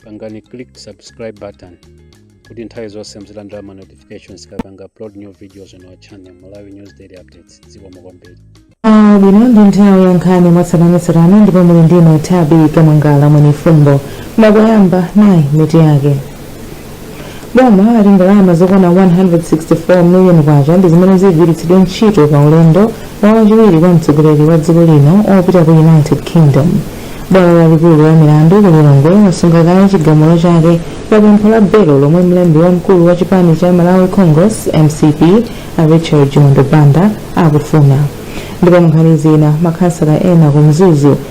pangani click subscribe button kuti nthawi zonse muzilandira ma notifications tikapanga upload new videos on our channel malawi news daily updates zikomo kwambiri Ah, bwino ndi nthawi ya nkhani mwatsatanetsatane ndipo muli ndi ine tabi kamangala mwenifumbo koma koyamba nayi mitu yake boma lati ndalama zokwana 164 miliyoni kwacha ndi zimene zigwiritsidwe ntchito pa ulendo wa wachiwiri kwa mtsogoleri wa dziko lino opita ku united kingdom bwalo lalikulu la milandu ku lilongwe lasunga kaye chigamulo chake pa pempho la belo lomwe mlembi wamkulu wa chipani cha malawi congress mcp a richard chimwendo banda akufuna ndipo munkhani zina makhansala ena ku mzuzu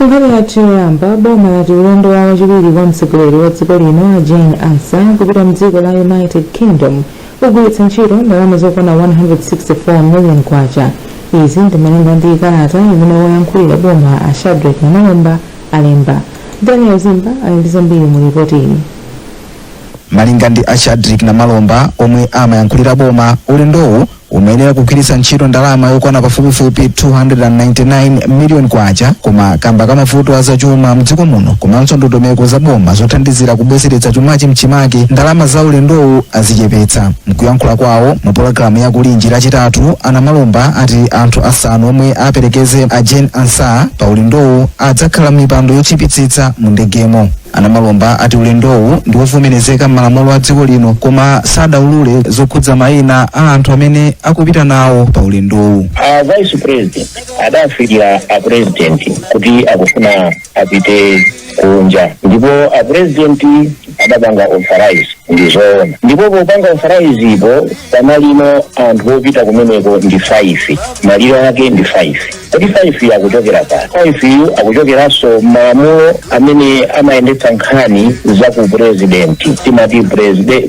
Nkhani yathu yoyamba boma lati ulendo wa wachiwiri kwa mtsogoleri wa dziko lino a Jane Ansah kupita mdziko la United Kingdom ugwiritsa ntchito ndalama zokwana 164 million kwacha. Izi ndimalinga ndi kalata imene woyankhulira boma a Shadric Namalomba alemba. Daniel Zimba ali ndi zambiri mu lipoti ili. Malinga ndi a Shadric Namalomba omwe amayankhulira boma, ulendowu umayenera kugwiritsa ntchito ndalama yokwana pafupifupi 299 miliyoni kwacha koma kamba ka mavuto a zachuma mdziko muno komanso ndondomeko za boma zothandizira kubwezeretsa chumachi mchimake ndalama za ulendowu azichepetsa mkuyankhula kwawo mu pologalamu ya kulinji lachitatu a namalomba ati anthu asanu omwe aperekeze a jane ansah pa ulendowu adzakhala m'mipando yotchipitsitsa mu ndegemo A Namalomba ati ulendowu ndi wovomerezeka m'malamulo a dziko lino koma sadaulule zokhudza mayina a anthu amene akupita nawo pa ulendowu. a vice president adafikira a president kuti akufuna apite kunja ndipo a president adapanga authorize ndi zoona ndipo popanga authorizepo pamalire anthu opita kumeneko ndi 5 malire ake ndi 5 kodi faifi yu akuchokera pati faifi yu akuchokeranso m'malamulo amene amayendetsa nkhani za ku purezidenti timati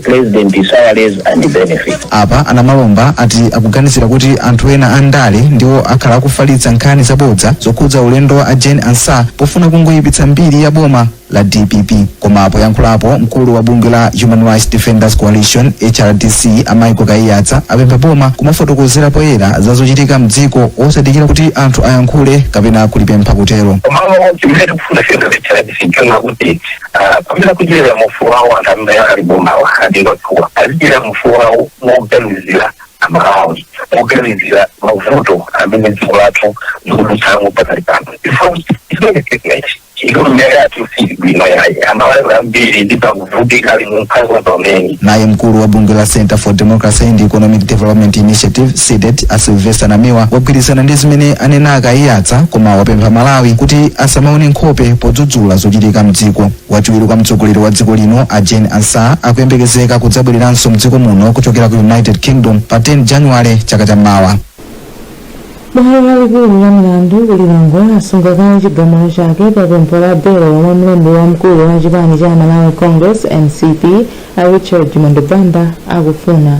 president salaries and benefit apa a namalomba ati akuganizira kuti anthu ena a ndale ndiwo akhala akufalitsa nkhani zabodza zokhudza ulendo wa a jane ansah pofuna kungoyipitsa mbiri ya boma la dpp koma poyankhulapo mkulu wa bungwe la human rights defenders coalition hrdc a michael kaiyatsa apempha boma kumafotokozera poyera za zochitika mdziko osadikira kuti anthu ayankhule kapena kulipempha kutero mawu chimene tikufuna ife a hrdc nchonena kuti ah, pamene akudyerera ufulu wawo anthu amene ali m'bomawa adindo athuwa azidyera ufulu wawo moganizira amalawi moganizira mavuto amene dziko lathu likudutsamo pakali pano ifo isingetekechi chikuyumayumira yathu si bwino yayi amalawi kwambiri ndipo akuvutika ali mu mphawi pamene naye mkulu wa bungwe la center for democracy and economic development initiative cdedi a silvester namiwa wagwirizana ndi zimene anena a kaiyatsa koma wapempha amalawi kuti asamaone nkhope podzudzula zochitika mdziko wachiwiri kwa mtsogoleri wa dziko lino a jane ansah akuyembekezeka kudzabwereranso mdziko muno kuchokera ku united kingdom pa 10 january chaka cha mawa bwalo lalikulu la milandu ku lilongwe lasunga kaye chigamulo chake pa pempho la belo lomwe mlembi wamkulu wa chipani cha malawi congress mcp a richard chimwendo banda akufuna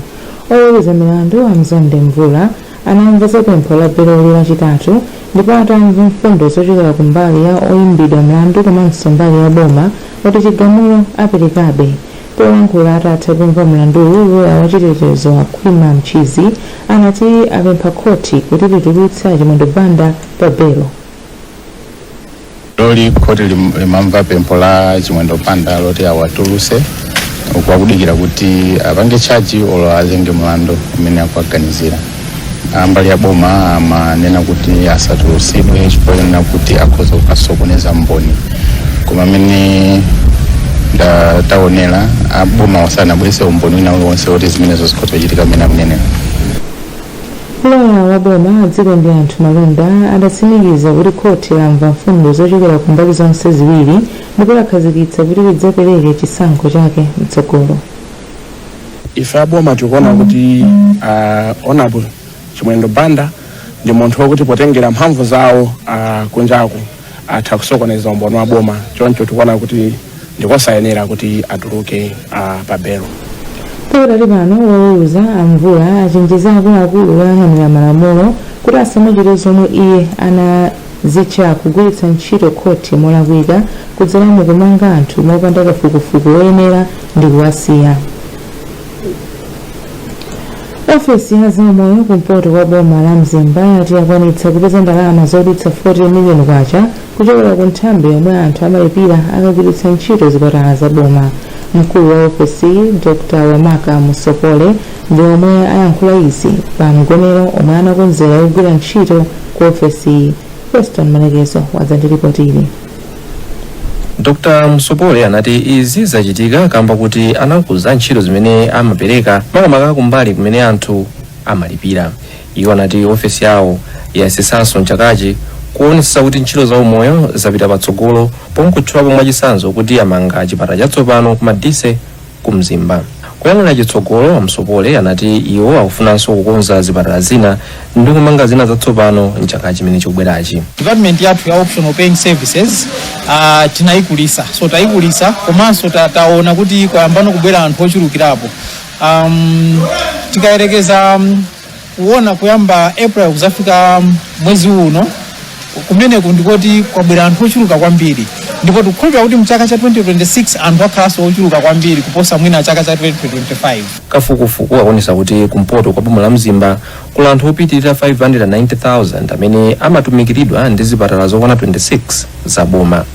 oweruza milandu a mzonde mvula anamva za pempho la beloli lachitatu ndipo atamva mfundo zochokera ku mbali ya oyimbidwa mlandu komanso mbali ya boma ati chigamulo aperekabe Polankhula atatha kumva mlanduwu, loya wachitetezo a Khwima Mchizi anati apempha khothi kuti litulutse a Chimwendo Banda pa belo. Leroli khoti lim- limamva pempho la Chimwendo Banda loti awatulutse uku akudikira kuti apange tchaji olo azenge mlandu umene akuwaganizira. ambali ya boma amanena kuti asatulutsidwe chifukwa chonena kuti akhoza kukasokoneza mboni koma mmene ndaonera aboma sanabweretse umboni wina uliwonse woti zimenezo zikhoza kuchitika mmene akunenera loya wa boma a dzikondianthu malunda adatsimikiza kuti khoti lamva mfundo zochokera ku mbali zonse ziwiri ndipo lakhazikitsa kuti lidzapereke chisankho chake mtsogolo ife aboma tikuona kuti uh, honorable chimwendo banda ndi munthu wokuti potengera mphamvu zawo uh, kunjaku atha kusokoneza umboni wa boma choncho tikuona kuti ndikosayenera kuti atuluke uh, pa belo pakadali pano woweruza amvula achenjeza akuluakulu oyang'anira malamulo kuti asamachite zomwe iye anazitcha kugwiritsa ntchito khoti molakwika kudzera mu kumanga anthu mopanda kafukufuku woyenera ndi kuwasiya. Ofesi ya zaumoyo kumpoto kwa boma la Mzimba yati yakwanitsa kupeza ndalama zodutsa 40 miliyoni kwacha kuchokera ku nthambi yomwe anthu amalipira akagwiritsa ntchito zipatala za boma. Mkulu wa ofesiyi Dr. Wamaka Musopole ndi omwe ayankhula izi pa mgonero omwe anakonzera ogwira ntchito ku ofesiyi. Feston Malekezo wadza ndi lipotili. dr musopole anati izi zachitika kamba kuti anakuza ntchito zimene amapereka makamaka kumbali kumene anthu amalipira iwo anati ofesi yawo yayesetsanso mchakachi kuonetsetsa kuti ntchito za umoyo zapita patsogolo pomwe akutchulapo mwachitsanzo kuti amanga chipatala chatsopano ku madise ku mzimba kuyang'anira chitsogolo a msopole anati iwo akufunanso kukonza zipatala zina ndi kumanga zina zatsopano mchaka chimene chikubwerachi department yathu ya optional paying services uh, tinayikulitsa so tayikulitsa komanso ta, taona kuti kwayambano kubwera anthu ochulukirapo um, tikayerekeza um, kuona kuyamba april kuzafika mwezi uno kumene ndikoti kwabwera anthu ochuluka kwambiri ndipo tikukhulupirira kuti mchaka cha 2026 anthu akhalanso ochuluka kwambiri kuposa mwina chaka cha 2025 kafukufuku akuonesa kuti kumpoto kwa boma la mzimba kuli anthu opitirira 590,000 amene amatumikiridwa ndi zipatala zokwana 26 za boma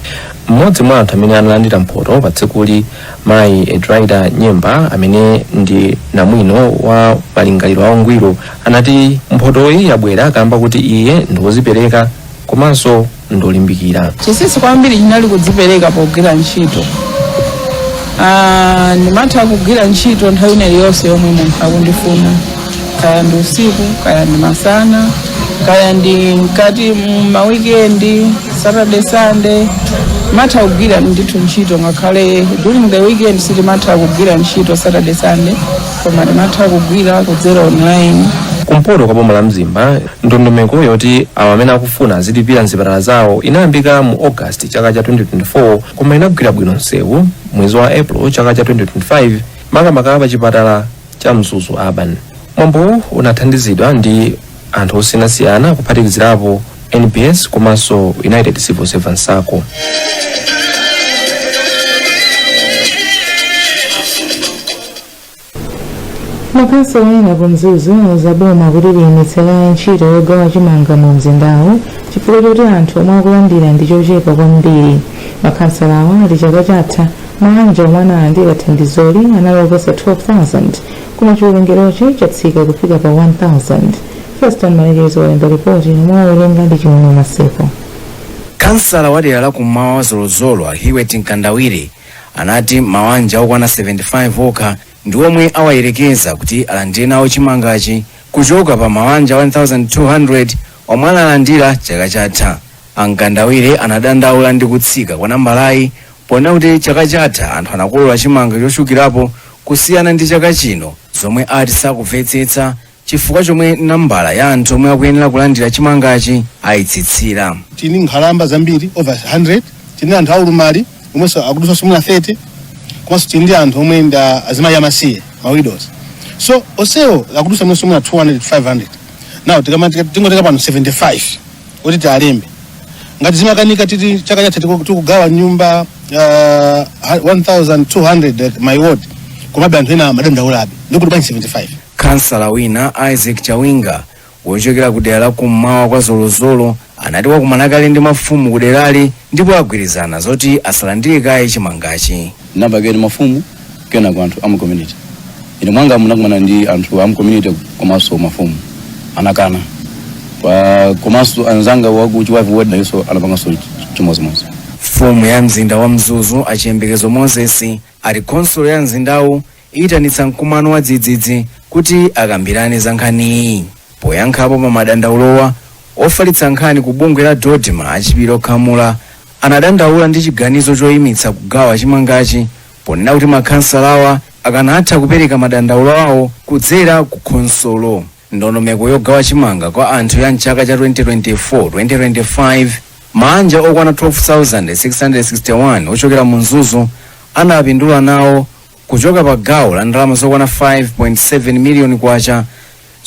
mmodzi mwa anthu amene analandira mphoto pa tsikuli mayi edraida nyemba amene ndi namwino wa malingaliro a ungwiro anati mphotoyi yabwera kamba kuti iye ndi wodzipereka komanso ndolimbikira chisisi kwambiri chinali kudzipereka pogwira ntchito Ah, ndimatha kugwira ntchito nthawi ina iliyonse yomwe munthu akundifuna kaya ndi usiku kaya ndi masana kaya ndi mkati mwa weekend saturday sunday matha kugwira ndithu ntchito ngakhale during the weekend sitimatha kugwira ntchito saturday sunday koma timatha kugwira kudzera online kumpoto kwa boma la mzimba ndondomeko yoti awo amene akufuna azilipira mzipatala zawo inayambika mu august chaka cha 2024 koma inagwira bwino msewu mwezi wa april chaka cha 2025 makamaka pa chipatala cha mzuzu urban mwambowu unathandizidwa ndi anthu osiyanasiyana kuphatikizirapo nbs komanso united civil servants sacco makhansala ena ku mzuzu auza boma kuti liyimitse kaye ntchito yogawa chimanga mu mzindawu chifukwa choti anthu omwe akulandira ndi ochepa kwambiri makhansalawa ati chaka chatha maanja omwe analandira thandizoli anali oposa 12,000 koma chiwerengerochi chatsika kufika pa 1,000 feston malekezo walemba ripoti lomwe awerenga ndi chimwemwe maseko khansala wa dera la kummawa kwa zolozolo a hiwet mkandawire anati mawanja okwana 75 okha ndi omwe awayerekeza kuti alandire nawo chimangachi kuchoka pa mawanja 1200 omwe analandira chaka chatha a mkandawire anadandaula ndi kutsika kwa nambalayi Ponena kuti chaka chatha anthu anakolola chimanga chochulukirapo kusiyana ndi chaka chino zomwe ati sakumvetsetsa chifukwa chomwe nambala ya anthu omwe akuyenera kulandira chimangachi ayitsitsira. Tili ndi nkhalamba zambiri over 100, tili ndi anthu aulumali omwenso akudusanso mwina 30 komanso tili ndi anthu omwe ndi a- azimayi amasiye ma widows so onsewo akudusa mwinanso mwina 200 500 now tikama- tika- tingotenga pano 75 kuti tialembe ngati zimakanika titi chaka chatha tiku- tikugawa nyumba uh, 1200 mu ward komabe anthu ena amadandaulabe ndikuti bwanji 75 khansala wina isaac chawinga wochokera ku dera la kummawa kwa zolozolo anati wakumana kale ndi mafumu ku derali ndipo agwirizana zoti asalandire kaye chimangachi tinaitana mafumu kenako anthu amu community ine mwanga ndinakumana ndi anthu amu community komanso mafumu anakana Pa- komanso anzanga waku chiwavi ward nayenso anapanganso ch- chimodzimodzi mfumu ya mzinda wa mzuzu a chiyembekezo moses ati khonsolo ya mzindawu iyitanitsa mkumano wa dzidzidzi kuti akambirane za nkhaniyi poyankhapo pa madandaulowa ofalitsa nkhani ku bungwe la dodma a chipiliro khamula anadandaula ndi chiganizo choimitsa kugawa chimangachi ponena kuti makhansalawa akanatha kupereka madandaulo awo kudzera ku khonsolo. Ndondomeko yogawa chimanga kwa anthu ya mchaka cha 2024-2025 maanja okwana 12,661 ochokera mu Mzuzu anapindula nawo kuchoka pa gawo la ndalama zokwana 5.7 miliyoni kwacha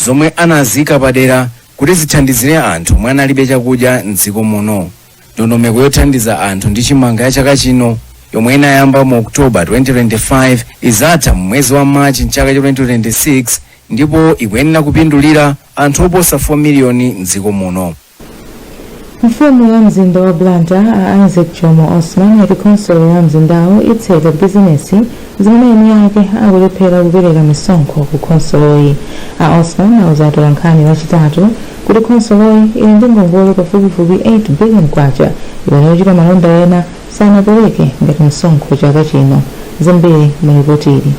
zomwe anaziika padera kuti zithandizire anthu omwe analibe chakudya m'dziko muno. ndondomeko yothandiza anthu ndi chimanga ya chaka chino yomwe inayamba mu oktoba 2025 izatha mu mwezi wa machi mchaka cha 2026 ndipo ikuyenera kupindulira anthu oposa 4 miliyoni mdziko muno mfumu ya mzinda wa blantyre a isaac jomo osman yati khonsolo ya mzindawu itseka bizinesi zimene eni ake akulephera kupereka misonkho ku khonsoloyi. A Osman auza atolankhani Lachitatu kuti khonsoloyi ili ndi ngongole pafupifupi K8 biliyoni imene ochita malonda ena sanapereke ngati msonkho chaka chino. Zambiri mu lipotili.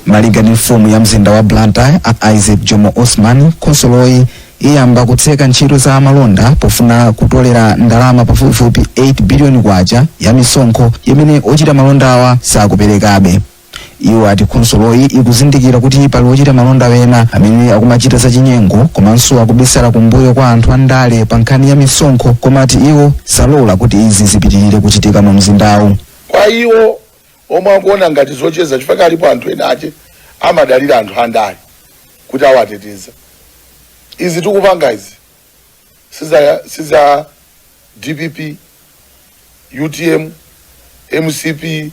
Malinga ndi mfumu ya mzinda wa Blantyre a Isaac Jomo Osman, khonsoloyi iyamba kutseka ntchito za malonda pofuna kutolera ndalama pafupifupi K8 biliyoni ya misonkho imene ochita malondawa sakuperekabe. Iwo ati khonsoloyi ikuzindikira kuti pali ochita malonda ena amene akumachita zachinyengo komanso akubisala kumbuyo kwa anthu andale pa nkhani ya misonkho koma ati iwo salola kuti izi zipitirire kuchitika mumzindawu. Kwa iwo, omwe akuona ngati zocheza chifukwa alipo anthu enaake amadalira anthu andale kuti awateteza izi tikupanga izi siza, siza dpp utm mcp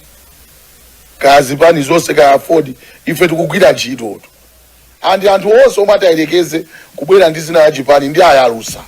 kaya zipani zonse kaya aford ife tikugwira ntchitoto And anthu onse omwe atayelekeze kubwera ndi dzina la chipani ndiwayalutsa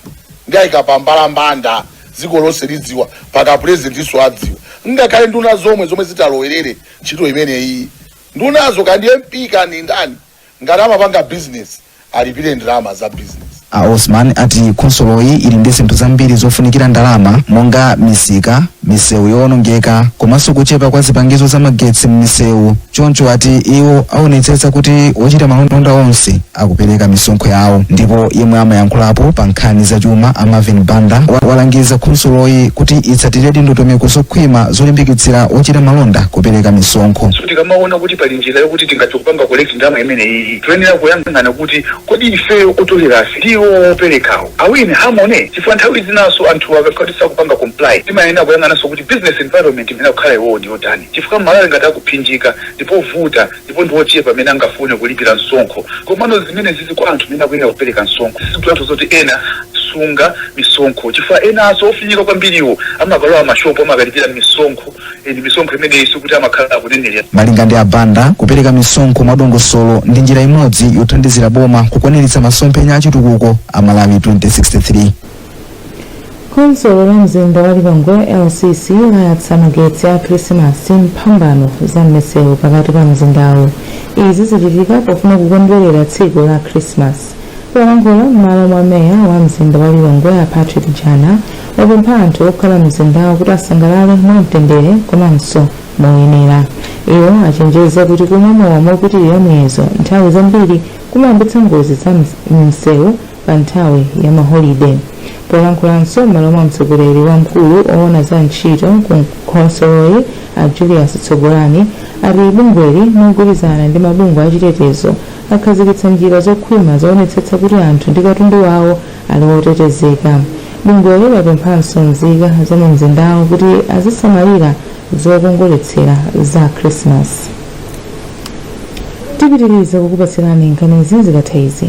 ndiwayika pa mbalambanda dziko lonse lidziwa mpaka presidentiso adziwa ngakhale nduna zomwe zomwe zitalowelere ntchito imeneyi ndunazo kaya ndi mp kaya ndi ndani ngati amapanga business alipire ndalama za business A Osman ati khonsoloyi ili ndi zinthu zambiri zofunikira ndalama monga misika, misewu yowonongeka komanso kuchepa kwa zipangizo za magetsi m'misewu choncho ati iwo awonetsetsa kuti ochita malonda onse akupereka misonkho yawo. Ndipo yemwe amayankhulapo pa nkhani za chuma a Marvin Banda walangiza khonsoloyi kuti itsatiredi ndondomeko zokhwima zolimbikitsira ochita malonda kupereka misonkho. so tikamaona kuti pali njira yokuti tingachokupanga collect ndalama imeneyi toyenera kuyang'ana kuti Kodi ifeyo otolerafe ndi iwowo opelekawo are we in harmony? Chifukwa nthawi zinaso anthuwa akakhala kuti sakupanga comply timayenera kuyang'anaso kuti business environment imene akukhala iwowo ndiyotani chifukwa mmalawi ngati akuphinjika ndipovuta ndipo ndiwochepa amene angafune kulipira msonkho komano zimenezizi kwa anthu amene akuyenera kupeleka msonkho sizikutanthauza kuti ena sunga misonkho chifukwa enaso ofinyika kwambiriwo amakalowa m'mashopu amakalipira misonkho misonkho imeneyi sikuti amakhala akunenerera Malinga ndi a Banda, kupereka misonkho mwadongosolo ndi njira imodzi yothandizira boma kukwaniritsa masomphenya a chitukuko a Malawi 2063. khonsolo la mzinda wa lilongwe lcc layatsa magetsi a khrisimasi m'mphambano za m'misewu pakati pa mzindawo izi zachitika pofuna kukondwerera tsiku la khrisimasi polankhula m'malo mwa meya wa mzinda wa lilongwe a patrick jana wapempha anthu okhala mu mzindawo kuti asangalale mwamtendere komanso moyenera. Iwo achenjeza kuti kumwa mowa mopitirira muyezo nthawi zambiri kumayambitsa ngozi za m'msewu pa nthawi ya maholide. Polankhulanso m'malo mwa mtsogoleri wamkulu owona za ntchito ku khonsoloyi a Julius Tsogolani ati bungweli mogwirizana ndi mabungwe achitetezo akhazikitsa njira zokhwima zoonetsetsa kuti anthu ndi katundu wawo ali otetezeka. Bungweli lapemphanso nzika za mu mzindawo kuti azisamalira zokongoletsera za Khrisimasi. Tipitiriza kukupatsirani nkhanizi zikatha izi.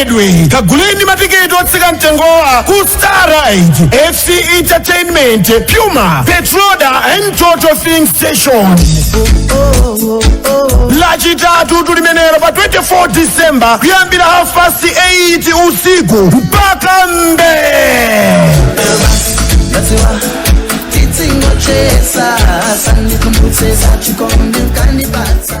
Edwe kaguleni matiketi otsika mtengowa ku Starride FC Entertainment Puma Petroda and Total Filling Station lachitatu tulimenelo pa 24 December kuyambira half past 8 usiku mpaka mbee Titsingochesa, sandikumbutse zachikondi ukanipatsa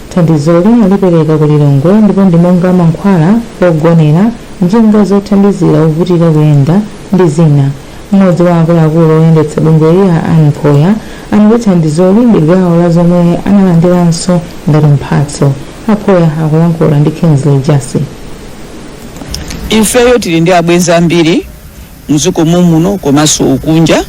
Thandizoli alipereka ku Lilongwe ndipo ndi monga mankhwala, pogonera, njinga zothandizira ovutika kuyenda ndi zina. M'modzi wa akuluakulu oyendetsa bungweli a Anne Phoya anati thandizoli ndi gawo la zomwe analandiranso ngati mphatso. A Phoya akulankhula ndi Kingsley Jasi. Ifeyo tili ndi abwenzi ambiri mdziko momuno komanso kunja.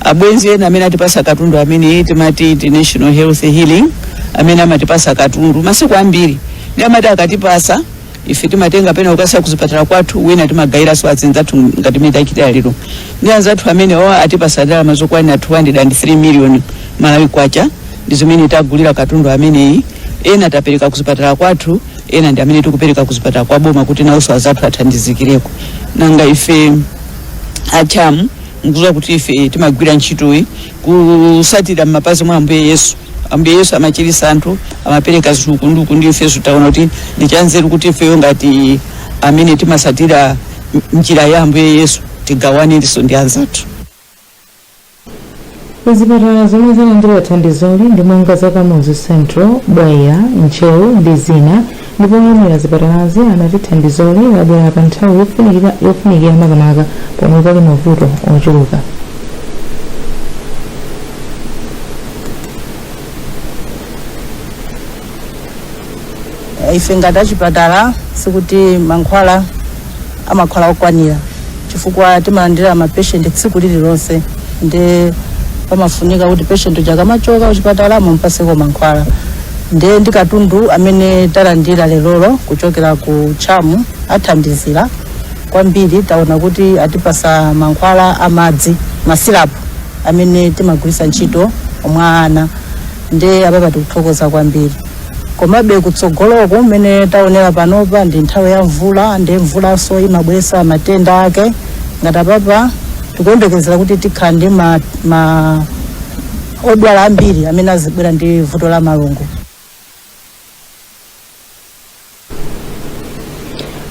Abwenzi ena amene atipasa katundu amene timati International Health Healing amene amatipasa katundu masiku ambiri ndi amati akatipasa ife timatenga pena kukasiya kuzipatala kwathu wina timagayiranso azinzathu ngati mmene tachitira lero ndi anzathu amene atipasa ndalama zokwanira 203 million malawi kwacha ndi zimene tagulira katundu ameneyi ena tapereka kuzipatala kwathu ena ndi amene tikupereka ku zipatala kwa boma kuti nawonso azathu athandizikireko nanga ife a CHAM mukuziwa kuti ife timagwira ntchitoyi kusatira m'mapazi mwa ambuye yesu ambuye yesu amachirisa anthu amapereka zinthu nduku ndiye ifenso taona kuti ndi chanzeru kuti ifeyo ngati amene timasatira njira ya ambuye yesu tigawanirenso ndi anzathu Zipatala zomwe zalandira thandizoli ndi monga za Kamuzu Central, Bwaila, Ntcheu ndi zina ndipo oyimira zipatalazi anati thandizoli labwera pa nthawi yofunikira makamaka pomwe pali mavuto ochuluka. ife ngati achipatala sikuti mankhwala amakhala okwanira chifukwa timalandira mapeshenti tsiku lililonse nde pamafunika kuti peshenti uja akamachoka kuchipatala mumpaseko mankhwala nde ndi katundu amene talandira lerolo kuchokera ku CHAM athandizira kwambiri taona kuti atipasa mankhwala amadzi masilapu amene timagwiritsa ntchito mwa ana nde apapa tikuthokoza kwambiri komabe kutsogoloko mmene taonera panopa ndi nthawi ya mvula ndi mvulanso imabweretsa matenda ake ngati apapa tikuyembekezera kuti tikhala ndi ma, ma odwala ambiri amene azibwera ndi vuto la malungo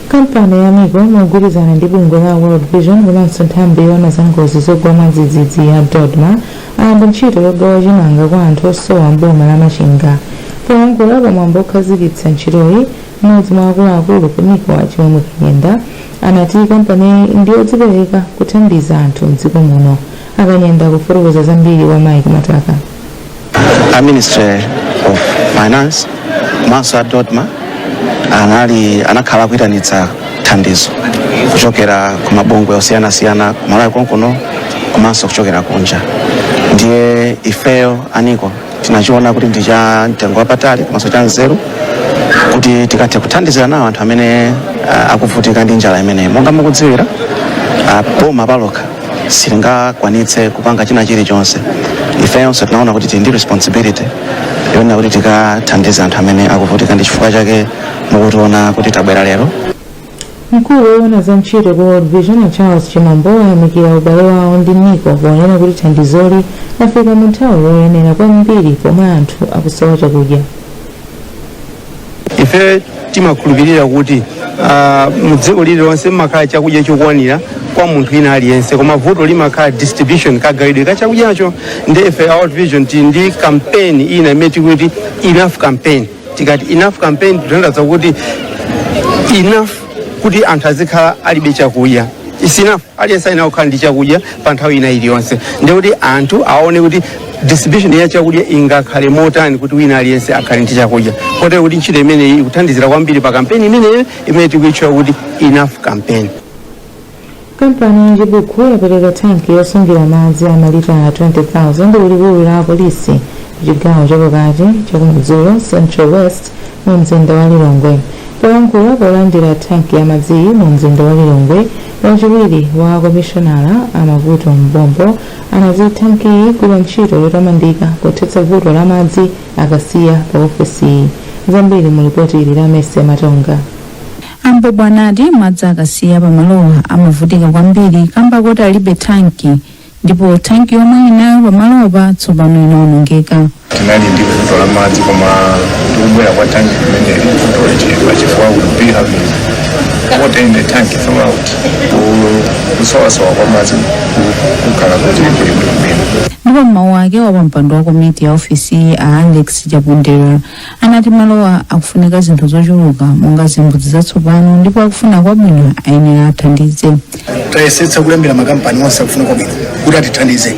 kampani ya nico mogwirizana ndi bungwe la world vision komanso nthambi yoona za ngozi zogwa mwadzidzidzi ya dodma ayamba ntchito yogawa chimanga kwa anthu osowa m'boma la machinga poyankhula pamwambo okhazikitsa ntchitoyi mmodzi mwa akuluakulu ku nico a chimwemwe kanyenda anati kampaniyi ndiyodzipereka kuthandiza anthu mdziko muno a kanyenda akufotokoza zambiri kwa mike mataka a ministry of finance komanso a dodma anali anakhala akuyitanitsa thandizo kuchokera ku mabungwe osiyanasiyana ku malawi konkuno komanso kuchokera kunja ndiye ifeyo a niko tinachiona kuti ndi cha mtengo wapatali komanso cha nzeru kuti tikathe kuthandizira nawo anthu amene ah, akuvutika ndi njala imeneyi monga mukudziwira ah, boma palokha silingakwanitse kupanga china chilichonse ifeyonso tinaona kuti tili ndi responsibility yonena kuti tikathandiza anthu amene akuvutika ndi chifukwa chake mukutiona kuti tabwera lero mkulu woona za ntchito ku world vision a charles chimambo ayamikira ubale wawo ndi niko ponena kuti thandizoli lafika mu nthawi yoyenera kwambiri pomwe anthu akusowa chakudya ife timakhulupirira kuti ah, mu dziko lililonse mmakhala chakudya chokwanira kwa munthu ina aliyense koma vuto limakhala distribution kagawidwe ka chakudyacho ndiye ife a World vision tili ndi kampeni ina imene tikuti enough campaign tikati enough campaign tikutanthauza kuti enough kuti anthu azikhala alibe chakudya is enough aliyense ayenera kukhala ndi chakudya pa nthawi ina iliyonse ndi kuti anthu aone kuti distribution ya chakudya ingakhale motani kuti wina aliyense akhale ndi chakudya kotero kuti ntchito imeneyi ikuthandizira kwambiri pa kampeni imeneyo imene tikuitchula kuti enough campaign kampani ya chibuku yapereka thanki yosungira madzi a malita 20,000 ku likulu la apolisi ku chigawo chapakati chakumadzulo central west mu mzinda wa lilongwe polankhula polandira thanki ya madziyi mu mzinda wa lilongwe wachiwiri wa komishonala a mavuto m'bobo anati thankiyi igwira ntchito yotamandika pothetsa vuto la madzi akasiya pa ofesiyi zambiri mu lipoti ili la mercy matonga A M'bobo anati madzi akasiya pamalowa amavutika kwambiri kamba koti alibe tanki ndipo tanki yomwe ali nayo pamalopa tsopano inaonongeka. tinali ndi vuto la madzi koma ndi kubwera kwa tanki kumene vuto lichepa chifukwa we'll be having water in the tank throughout Ku- kusowasowa kwa madzi ku- kukhala kuti kuli bwinobwino ndipo m'mawu ake wapampando wa komiti ya ofisiyi a alex chapondera anati malowa akufunika zinthu zochuluka monga zimbudzi zatsopano ndipo akufuna kwabwino ayenera athandize tayesetsa kulembera makampani onse akufuna kwabwino kuti atithandize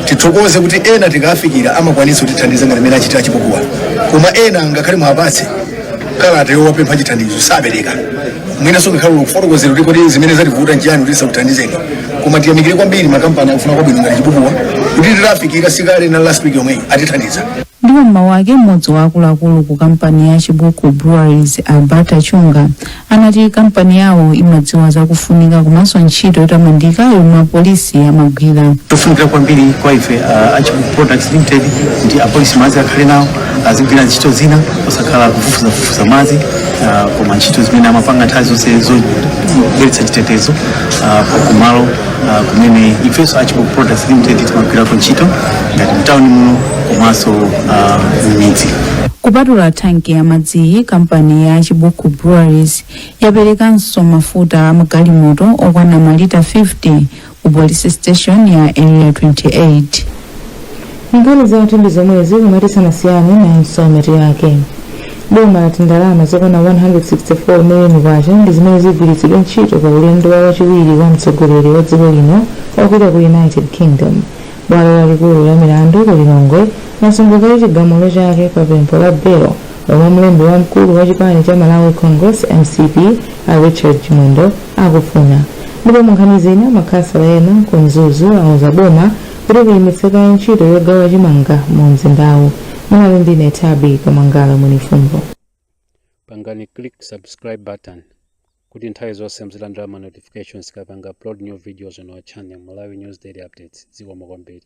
tithokoze kuti ena tikafikira amakwanisa kutithandiza ngati mmene achitira chibukuwa koma ena ngakhale mwapatse kalata yowapempha chithandizo sapereka mwinanso ngakhale kukufotokozera kuti kodi zimene zativuta nchiyani kuti sakuthandizeni koma tiyamikire kwambiri makampani akufuna kwabwino ngati chibukuwa kuti titafikira sikale na last week yomweyi atithandiza Ndipo m'mawu ake m'modzi wa akuluakulu ku kampani ya Chibuku Breweries Alberta Chunga anati kampani yawo imadziwa za kufunika komanso ntchito yotamandika yomwe apolisi amagwira. ndi zofunikira kwambiri kwa ife uh, a Chibuku Products limited kuti apolisi madzi akhale nawo azigwira ntchito zina osakhala kufufuzafufuza madzi uh, koma ntchito zimene amapanga nthawi zonse zobweretsa chitetezo uh, kumalo uh, kumene ifenso a Chibuku Products Limited timagwirako ntchito ngati mtawuni muno komanso uh, m'midzi kupatula tanki ya madziyi kampani ya chibuku breweries yaperekanso mafuta a magalimoto okwana malita 50 ku police station ya area 28 nkhani zathu ndi zomwezi koma tisanasiyane nayinso mitu yake boma lati ndalama zokwana 164 miliyoni kwacha ndi zimene zigwiritsidwe ntchito pa ulendo wa wachiwiri wa mtsogoleri wa dziko lino opita ku united kingdom bwalo lalikulu la milandu ku lilongwe lasunga kaye chigamulo chake pa pempho la belo lomwe mlembi wamkulu wa chipani cha malawi congress mcp a richard chimwendo akufuna ndipo munkhani zina makhansala ena ku mzuzu auza boma Kuti liyimitse kaye ntchito yogawa chimanga mu mzindawu. Munali ndi ine Thabi Kamangala Mwenifumbo. pangani click subscribe button kuti nthawi zonse muzilandira ma notifications tikapanga upload new videos on our channel malawi news daily updates zikomo kwambiri